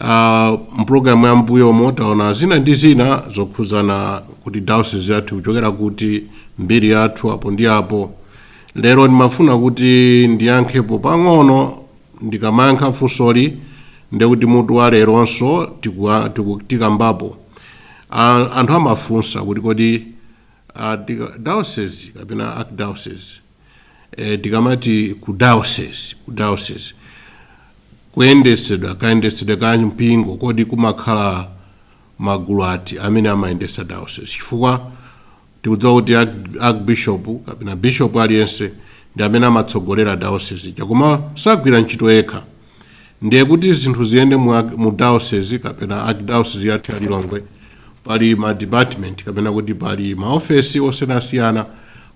Uh, mpulogalamu ya mbuyomo taona zina ndi zina zokhudzana kuti diocese yathu ikuchokera kuti mbiri yathu apo ndi apo lero ndimafuna kuti ndiyankhepo pang'ono ndikamayankha funsoli ndekuti mutu wa leronso tikua- tiku- tikambapo Ah, anthu amafunsa kuti kodi ah, tika- diocese kapena archdiocese e, tikamati ku diocese ku diocese kuyendetsedwa kayendetsedwe ka mpingo kodi kumakhala magulu ati amene amayendetsa diocese chifukwa tikudziwa kuti arch- archbishop kapena bishop aliyense ndi amene amatsogolera diocese ija koma sagwira ntchito yekha ndiye kuti zinthu ziyende mu, arch- mu diocese kapena archdiocese yathu ya lilongwe pali ma department kapena kuti pali maofesi osiyanasiyana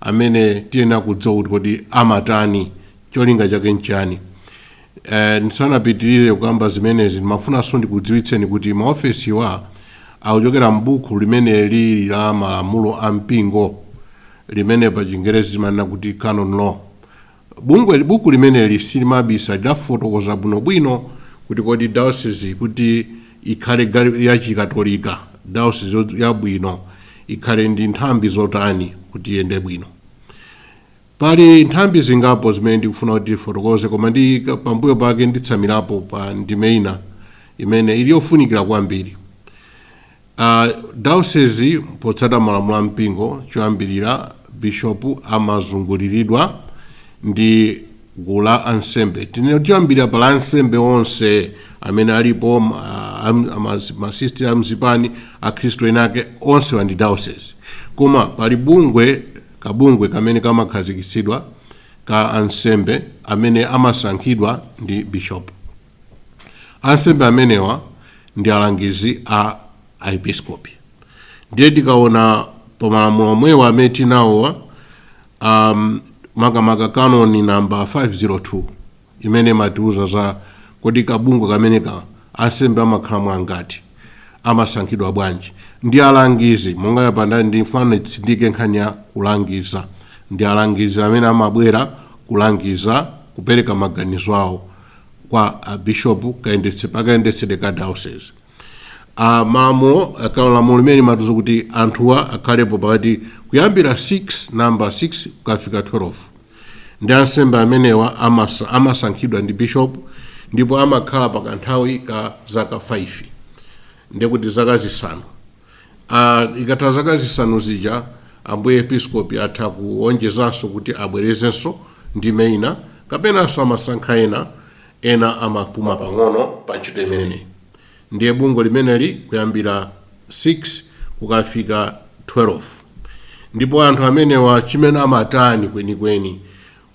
amene tiyenera kudziwa kuti kodi amatani cholinga chake nchani Eh, ndisanapitirire kukamba zimenezi ndimafunanso ndikudziwitseni kuti maofesiwa akuchokera m'buku limene lili la malamulo a mpingo limene pa chingerezi timanena kuti canon law Bungweli, buku limeneli silimabisa, lidafotokoza bwinobwino kuti kodi diocese kuti ikhale ya Chikatolika, diocese yabwino ikhale ndi nthambi zotani kuti iyende bwino. Pali nthambi zingapo zimene ndikufuna kuti tifotokoze koma ndi pambuyo pake nditsamirapo pa ndime ina imene ili yofunikira kwambiri. A Daosezi potsata malamulo a mpingo choyambilira Bishop amazunguliridwa ndi gulu la ansembe. Tinene kuti choyambilira pali ansembe onse amene alipo ma- am- ama- masisitiri a m'zipani akhristu enake onsewa ndi Daosezi. Koma pali bungwe kabungwe kamene kamakhazikitsidwa ka ansembe amene amasankhidwa ndi Bishop. Ansembe amenewa ndi alangizi a aepiskopi. Ndiye tikaona pa malamulo omwewa amene tinenawa um, makamaka kanoni namba 502 imene imatiuza za kodi kabungwe kameneka ka ansembe amakhalamo angati amasankhidwa bwanji ndi alangizi monga yapandani ndifuna nditsindike nkhani ya kulangiza ndi alangizi amene amabwera kulangiza kupereka maganizo awo kwa a bishop kayendetse pakayendetsedwe ka diocese a malamulo akalo lamulo limeneli limatiuza kuti anthuwa akhalepo pakati kuyambira 6 namba 6 kukafika 12 ndi ansembe amenewa amasa- amasankhidwa ndi bishop ndipo amakhala pa kanthawi ka zaka 5 ndekuti zaka zisanu a ikatha zaka zisanu zija ambuye episkopi atha kuonjezanso kuti abwerezenso ndime ina kapenanso amasankha ena ena amapuma pang'ono pa ntchito imeneyi ndiye bungwe limeneli kuyambira 6 kukafika 12 ndipo anthu amenewa chimene amatani kwenikweni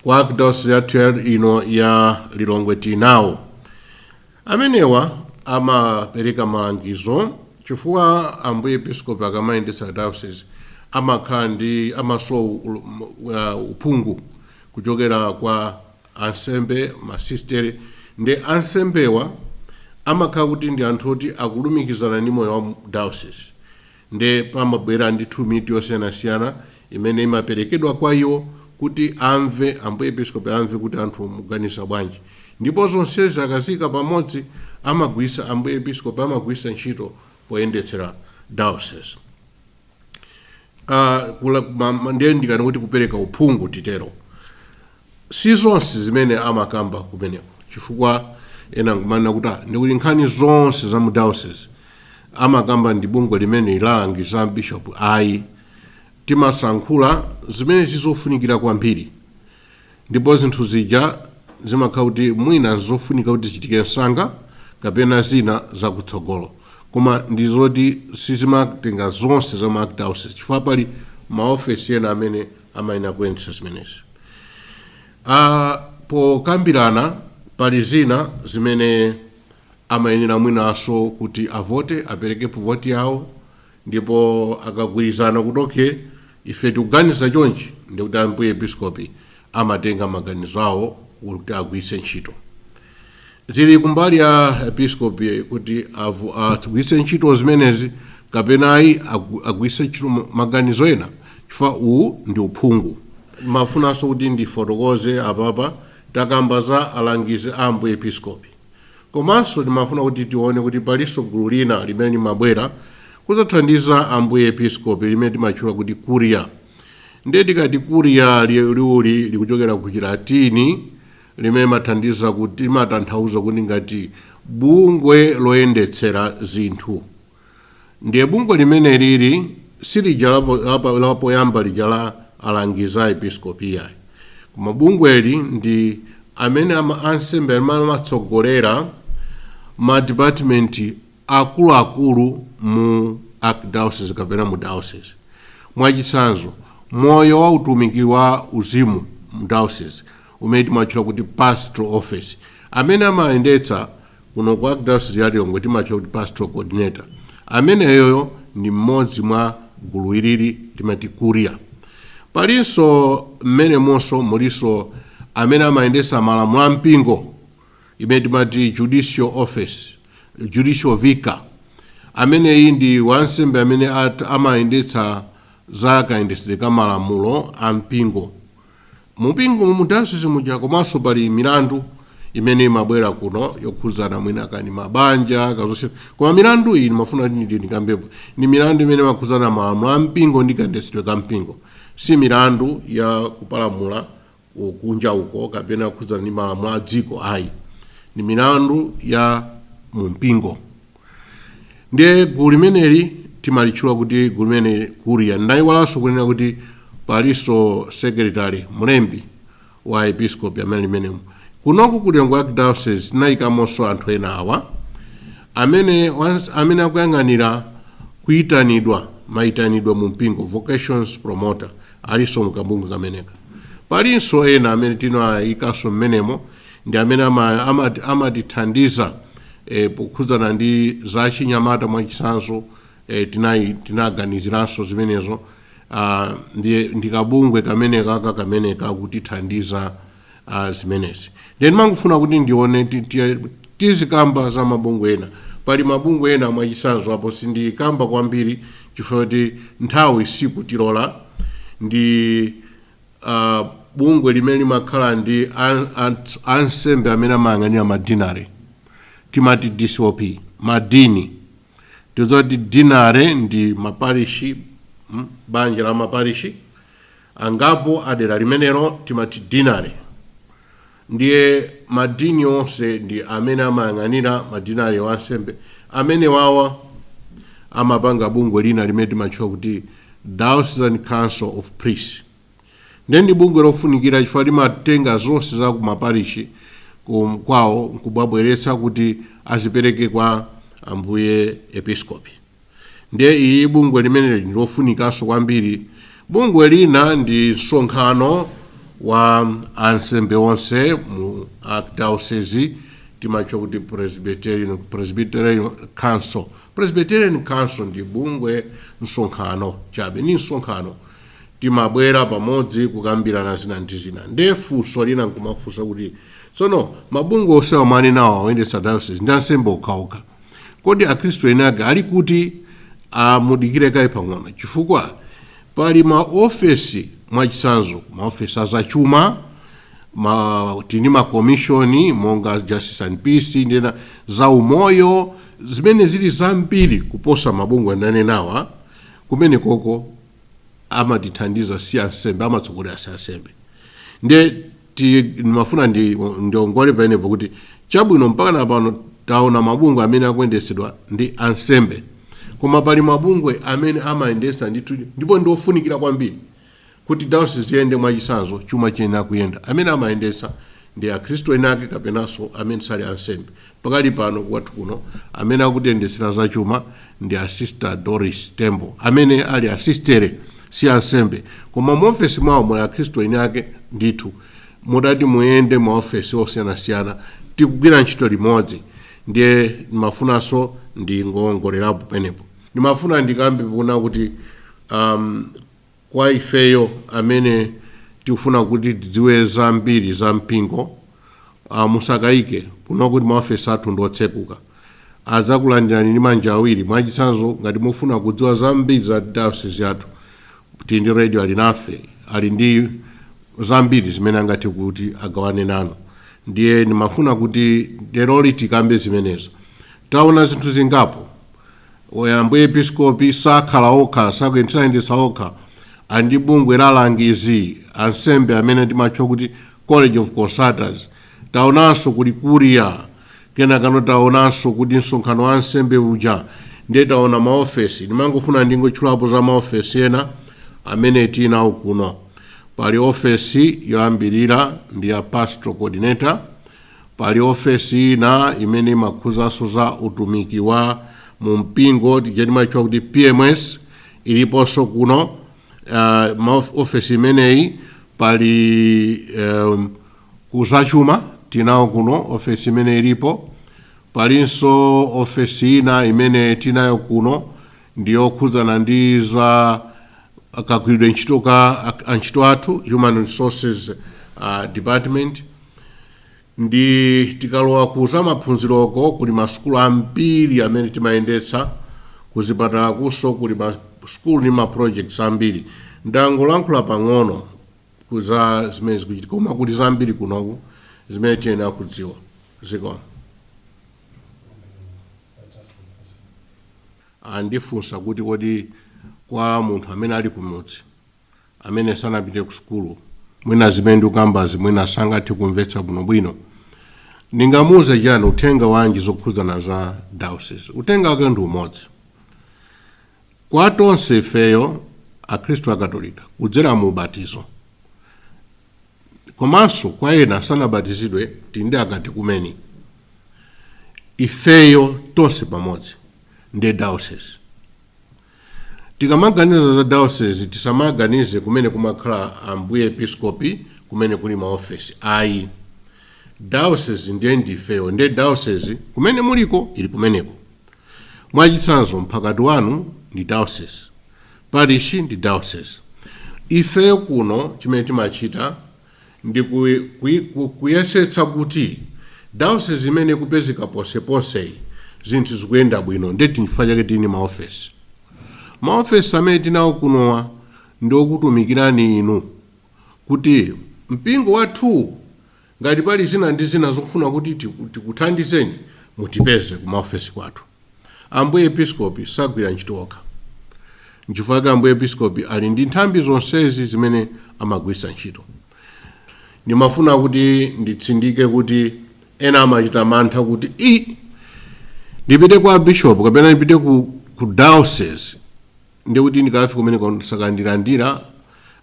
kwa archdiocese yathu ya- ino ya lilongwe tinawo Amenewa amapereka malangizo chifukwa Ambuye Episkopi akamayendetsa diocese amakhala ndi amasowa u- u- uh, uphungu kuchokera kwa ansembe masistere ndi ansembewa amakhala kuti ndi anthu oti akulumikizana ndi moyo wa mu- diocese Nde pamabwera ndithu mitu yosiyanasiyana imene imaperekedwa kwa iwo kuti amve, Ambuye Episkopi amve kuti anthu muganiza bwanji. Ndipo zonsezi akaziika pamodzi amagwiritsa, Ambuye Episkopi amagwiritsa ntchito poyendetsera diocese. Ah, kula, ma, ma, ndiye ndikanena kuti kupereka uphungu titero. Si zonse zimene amakamba kumeneko chifukwa ena angamanene kuti ah, ndikuti nkhani zonse za mu diocese amakamba ndi bungwe limeneli la alangizi a bishop ayi timasankhula zimene zizofunikira kwambiri ndipo zinthu zija zimakhala kuti mwina zofunika kuti zichitike msanga kapena zina zakutsogolo koma ndi zoti sizimatenga zonse za mu archdiocese chifukwa pali maofesi ena amene amayenera kuyendetsa zimenezi. Ah, pokambirana pali zina zimene amayenera mwinanso kuti avote apereke voti yawo ndipo akagwirizana kuti okay ife tikuganiza chonchi ndikuti ambuye episkopi amatenga maganizo awo kuti agwiritse ntchito zili kumbali ya episkopi kuti avu- agwiritse ntchito zimenezi kapena ayi agu- agwiritse ntchito ma- maganizo ena chifukwa uwu ndi uphungu ndimafunanso kuti ndifotokoze apapa takamba za alangizi a ambuye episkopi komanso timafuna kuti tione kuti palinso gulu lina limene limabwera kuzathandiza ambuye episkopi limene timatchula kuti kuriya ndiye tikati kuriya li- liwuli likuchokera ku chilatini limene limathandiza kuti limatanthauza kuti ngati bungwe loyendetsera zinthu ndiye bungwe limeneli si lija lapoyamba lija la alangizi a episkopi iyayi koma bungweli ndi amene ansembe amene amatsogolera madipatimenti akuluakulu mu archdiocese kapena mu diocese. Mwachitsanzo, moyo wa utumiki wa uzimu mu diocese umene timatchula kuti pastoral office, amene amayendetsa kuno ku archdiocese ya Lilongwe timatchula kuti pastoral coordinator. Ameneyoyo ndi mmodzi mwa gulu ilili timati curia. Palinso mmenemonso mulinso amene amayendetsa malamulo a mpingo. imene timati judicial office, judicial vicar, ameneyi ndi wansembe amene amayendetsa za kayendetsedwe ka malamulo a mpingo mu mpingo mu diocese muja komanso pali milandu imene imabwera kuno yokhudzana mwina nkhani za mabanja kaya zonse koma milandu iyi ndimafuna kuti nditi ndikambepo ndi milandu imene imakhudzana ndi malamulo a mpingo ndi kayendetsedwe ka mpingo si milandu ya kupalamula kunja uko kapena kukhudzana ndi malamulo a dziko ayi ndi milandu ya mu mpingo ndiye gulu limeneli timalitchula kuti gulu limeneli curia ndayiwalanso kunena kuti palinso secretary mlembi wa episkopi amene ali mmenemo kunoku ku lilongwe archdiocese tinayikamonso anthu ena awa amene once- amene akuyang'anira kuyitanidwa mayitanidwe mu mpingo vocations promoter alinso mu kabungwe kameneka. Palinso ena amene tinayikanso mmenemo ndi amene ama- ama- amatithandiza eh, pokhudzana ndi za chinyamata mwachitsanzo eh, tinayi- tinaganiziranso zimenezo ah, ndi ndi kabungwe kamenekaka kamene kakutithandiza a zimenezi then ndimangofuna kuti ndione ti- ti- tizikamba za mabungwe ena pali mabungwe ena mwachitsanzo apo sindikamba kwambiri chifukwa kuti nthawi sikutilola ndi uh, bungwe limene limakhala ndi an- an- ansembe amene amayang'anira madinari timati dcop madini tidziwa kuti dinari ndi maparishi mm, banja la maparishi angapo adera limenelo timati dinari ndiye madini onse ndi amene amayang'anira madinari ansembe amenewawa amapanga bungwe lina limene timatchula kuti diocesan council of priests ndiye ndi bungwe lofunikira chifukwa limatenga zonse za ku maparishi ku- kwawo nkubwera kubweretsa kuti azipereke kwa ambuye episkopi ndiye iyi bungwe limeneli ndi lofunikanso kwambiri bungwe lina ndi msonkhano wa ansembe onse mu archdiocese timatcha kuti presbyterian, presbyterian council presbyterian council ndi bungwe msonkhano chabe ni msonkhano timabwera pamodzi kukambirana zina ndi zina nde funso lina nkumafunsa kuti tsono mabungwe onsewa mwanenawa oyendetsa diocese ndi ansembe okhaokha kodi akhristu eni ake ali kuti a mudikire kaye pang'ono chifukwa pali maofesi mwachitsanzo maofesi azachuma ma, tili ndi makomishoni monga justice and peace ndi ena za umoyo zimene zili zambiri kuposa mabungwe ndanenawa kumene koko amatithandiza si ansembe amatsogolera si ansembe nde ti- ndimafuna ndi- ndiongole pamenepo kuti chabwino mpaka na pano taona mabungwe amene akuyendetsedwa ndi ansembe koma pali mabungwe amene amayendesa ndithu ndipo ndi ofunikira kwambiri kuti dayosisi iyende mwachitsanzo chuma chiyenera kuyenda amene amayendesa ndi akhristu eni ake kapenanso amene sali ansembe Pakali pano kwathu kuno amene akutiyendetsera za chuma ndi a Sister Doris Tembo amene ali a sistere si ansembe koma mu ofesi mwawo muli akhristu eni ake ndithu. Mutati muyende ma ofesi osiyanasiyana tikugwira ntchito limodzi ndiye ndimafunanso ndingowongolerapo penepo. Ndimafuna ndikambe pano kuti am, Kwa ifeyo amene tikufuna kuti tidziwe zambiri za mpingo, a musakayike kuno kuti maofesi athu ndi otseguka. Adzakulandirani ndi manja awiri. Mwachitsanzo, ngati mufuna kudziwa zambiri za dayosizi yathu, tili ndi Radio Alinafe, ali ndi zambiri zimene angathe kuti agawane nanu. Ndiye ndimafuna kuti leroli tikambe zimenezo. Taona zinthu zingapo. Oya Ambuye Episkopi sakhala okha, sakuyendetsa dayosizi okha ali ndi bungwe la alangizi ansembe amene timatcha kuti College of Consultors. Taonanso kuli Curia, kenakano taonanso kuti msonkhano wa ansembe uja ndiye taona maofesi. Ndimangofuna ndingotchulapo za maofesi ena amene tili nawo kuno. Pali ofesi yoyambirira ndi ya Pastoral Coordinator, Pali ofesi ina imene imakhuzanso za utumiki wa mu mpingo tija timatchula kuti PMS iliponso kuno uh, ma of- ofesi imeneyi pali um, kuzachuma tinawo kuno ofesi imene ilipo palinso ofesi ina imene tinayo kuno ndiyokhudzana ndi za kagwiridwe ntchito ka a- antchito athu human resources uh, department Ndi tikalowa ku za maphunziroko kuli ma sukulu ambiri amene timayendetsa, ku zipatalakunso kuli ma sukulu ndi ma projects ambiri. Ndangolankhula pang'ono ku za zimene zikuchitika koma kuli zambiri kunoku zimene tiyenera kudziwa. Zikomo. Andifunsa kuti kodi kwa munthu amene ali kumudzi. amene sanapite kusukulu mwina zimene ndikukambazi mwina sangathe kumvetsa bwinobwino ndingamuuze chani uthenga wanji zokhudzana za diocese uthenga wake ndi umodzi kwa tonse ifeyo akhristu akatolika kudzera mu ubatizo komanso kwa ena sanabatizidwe tili ndi akatekumeni ifeyo tonse pamodzi ndi diocese Tikamaganiza za diocese tisamaganize kumene kumakhala Ambuye Episkopi kumene kuli maofesi ayi. Diocese ndiye ndi ifeyo ndiye diocese kumene muliko ili kumeneko. Mwachitsanzo mphakati wanu ndi diocese, parish ndi diocese. Ifeyo kuno chimene timachita ndi ku, ku, ku, kuyesetsa kuti diocese imene ikupezeka ponseponseyi zinthu zikuyenda bwino ndeti nchifukwa chake tili ndi maofesi maofesi amene tili nawo kunowa ndi okutumikirani inu kuti mpingo wathuwu ngati pali zina ndi zina zofuna kuti tiku- tikuthandizeni mutipeze ku maofesi kwathu Ambuye Episkopi sagwira ntchito okha. Nchifukwa chake Ambuye Episkopi ali ndi nthambi zonsezi zimene amagwiritsa ntchito. Ndimafuna kuti nditsindike kuti ena amachita mantha kuti i ndipite kwa bishop kapena ndipite ku, ku diocese ndiye kuti ndikafika kumeneko sakandilandira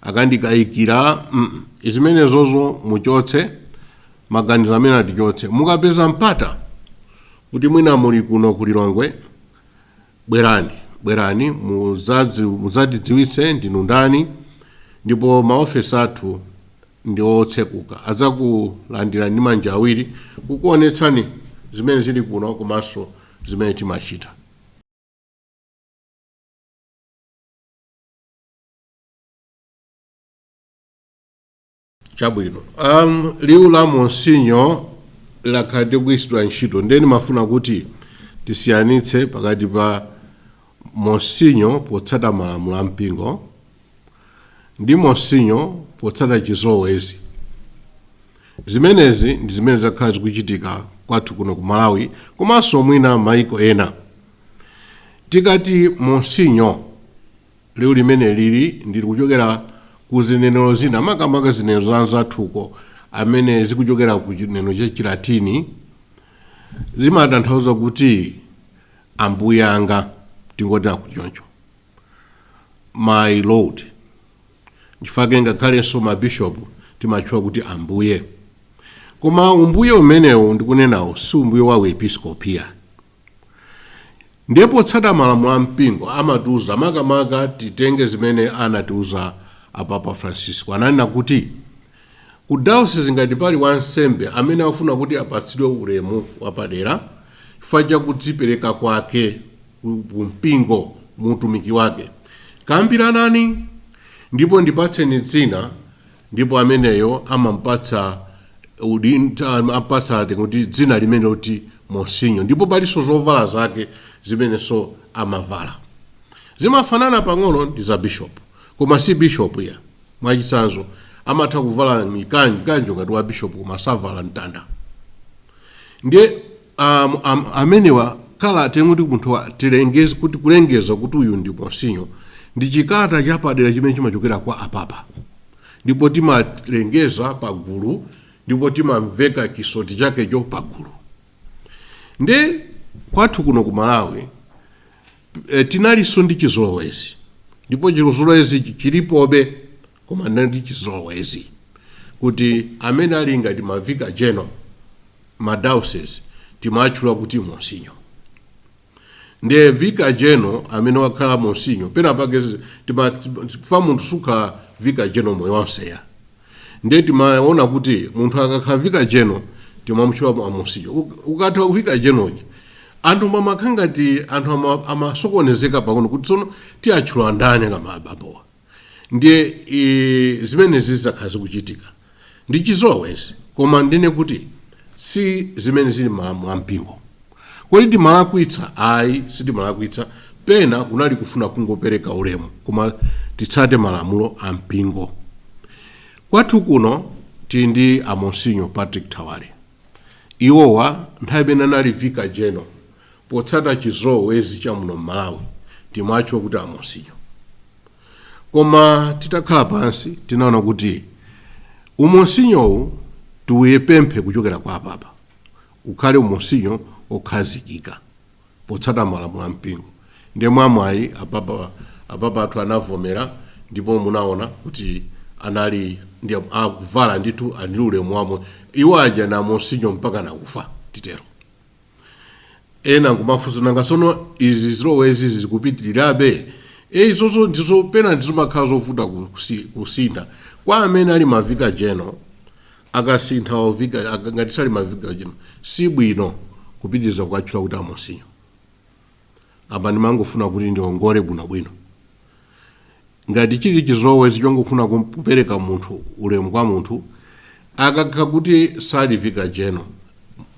akandikayikira mm, zimenezozo muchotse maganizo amenewa tichotse mukapeza mpata kuti mwina muli kuno ku lilongwe bwerani bwerani muzazi- muzatidziwitse ndinu ndani ndipo maofesi athu ndi otseguka adzakulandirani ndi manja awiri kukuonetsani zimene zili kuno komanso zimene timachita chabwino um, liwu la monsinyo lakhala likugwiritsidwa ntchito nde nimafuna kuti tisiyanitse pakati pa monsinyo potsata malamulo a mpingo ndi monsinyo potsata chizolowezi zimenezi ndi zimene zakhala zikuchitika kwathu kuno ku malawi komanso mwina maiko ena Tikati Monsinyo, liwu limenelili ndi lochokera ku zinenero zina, makamaka zinenero za anzathu uko amene zikuchokera ku chinenero cha Chilatini, zimatanthauza kuti ambuye anga, tingoti akuti choncho, my lord. Nchifukwa chake ngakhalenso mabishopu timatchula kuti ambuye. Koma umbuye umenewu ndikunenawo si umbuye wa uepiskopi ayi. Ndiye potsata malamulo a mpingo amatiuza makamaka titenge zimene anatiuza Apapa Francisco. Ananena kuti ku dayosizi ngati pali wansembe amene akufuna kuti apatsidwe ulemu wapadera chifukwa cha kudzipereka kwake ku mpingo mu utumiki wake, kambiranani ndipo ndipatseni dzina Ndipo ameneyo amamupatsa udin, amampatsa titi dzina limene loti monsinyo. Ndipo palinso zovala zake zimenenso amavala. Zimafanana pang'ono ndi za bishopu, koma si bishopu yayi. Mwachitsanzo, amatha kuvala mikanjo, mkanjo ngati wa bishopu koma savala mtanda. Ndiye Am, am, amenewa kalata yomwe timati munthu tilengeze kuti kulengeza kuti uyu ndi monsinyo ndi chikalata chapadera chimene chimachokera kwa apapa ndipo timalengeza pagulu ndipo timamveka chisoti chakecho pagulu nde kwathu kuno ku malawi e, tinalinso ndi chizolowezi ndipo chizolowezi chi- chilipobe koma ndi chizolowezi kuti amene ali ngati mavika jeno ma diocese timaatchula kuti monsinyo ndiye vicar general amene wakhala monsinyo pena pake zi- tima- fa munthu sukhala vicar general moyo wonse yayi ndiye timaona kuti munthu akakhala vicar general timamutchula mu- amonsinyo Uk- ukatha vicar general uja, anthu mamakhala ngati anthu ama- amasokonezeka pang'ono kuti tsono tiatchula ndani kapena abambowa ndiye e, zimenezi zakhala zikuchitika ndi chizolowezi koma ndinene kuti si zimene zili malamulo a mpingo kodi timalakwitsa ayi sitimalakwitsa pena kunali kufuna kungopereka ulemu koma titsate malamulo a mpingo kwathu kuno tili ndi amonsinyo patrick thawale iwowa nthawi imene anali vika jeno potsata chizolowezi cha muno m'Malawi timawatchula kuti amonsinyo koma titakhala pansi tinaona kuti umonsinyowu tiupemphe kuchokera kwa apapa ukhale umonsinyo okhazikika potsata malamulo a mpingo ndiye mwamwayi apapa athu anavomera ndipo munaona kuti anali ndi akuvala ndithu ali ndi ulemu wawo iwo aja ndi amonsinyo mpaka nakufa titero. ena kumafunsa nanga tsono zizolowezi izi zikupitirirabe e izozo ndizo pena zimakhala zovuta kusi- kusintha kwa amene ali mavika jeno akasintha ovika aka- ngati sali mavika jeno si bwino kupitiriza kuwatchula kuti amonsinyo apa ndimangofuna kuti ndiongole bwinobwino Ngati chili chizolowezi chongofuna kupereka munthu ulemu kwa munthu akakhala kuti sali vicar general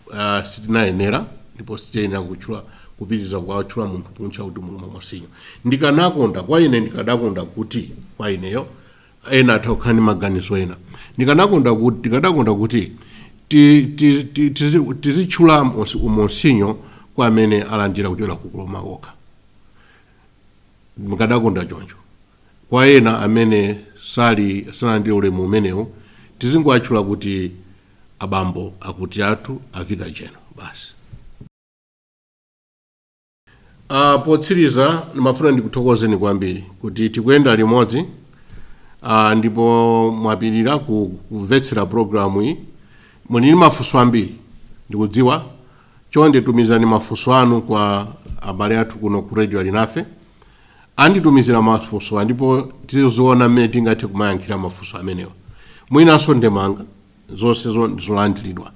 uh, sitinayenera ndipo sitiyenera kutchula kupitiriza kumutchula munthu kumutcha kuti Monsinyo ndikanakonda kwa ine ndikadakonda kuti kwa ineyo ena atha kukhala ndi maganizo ena ndikanakonda kuti ndikadakonda kuti ti- ti- ti- tizi- tizitchula monsi- umonsinyo kwa amene alandira kuchokera ku ku Roma okha ndikadakonda choncho kwa ena amene sali sanalandire ulemu umenewu tizingowatchula kuti abambo akuti athu a vicar general basi uh, potsiriza ndimafuna ndikuthokozeni kwambiri kuti tikuyenda limodzi uh, ndipo mwapirira ku- kumvetsera programu iyi muli ndi mafunso ambiri ndikudziwa Chonde tumizani mafunso anu kwa abale athu kuno ku Radio Alinafe. Anditumizira mafunsowa ndipo tiziona mmene tingathe kumayankhira mafunso amenewa. Mwinanso ndemanga zonse zo- ndi zolandiridwa.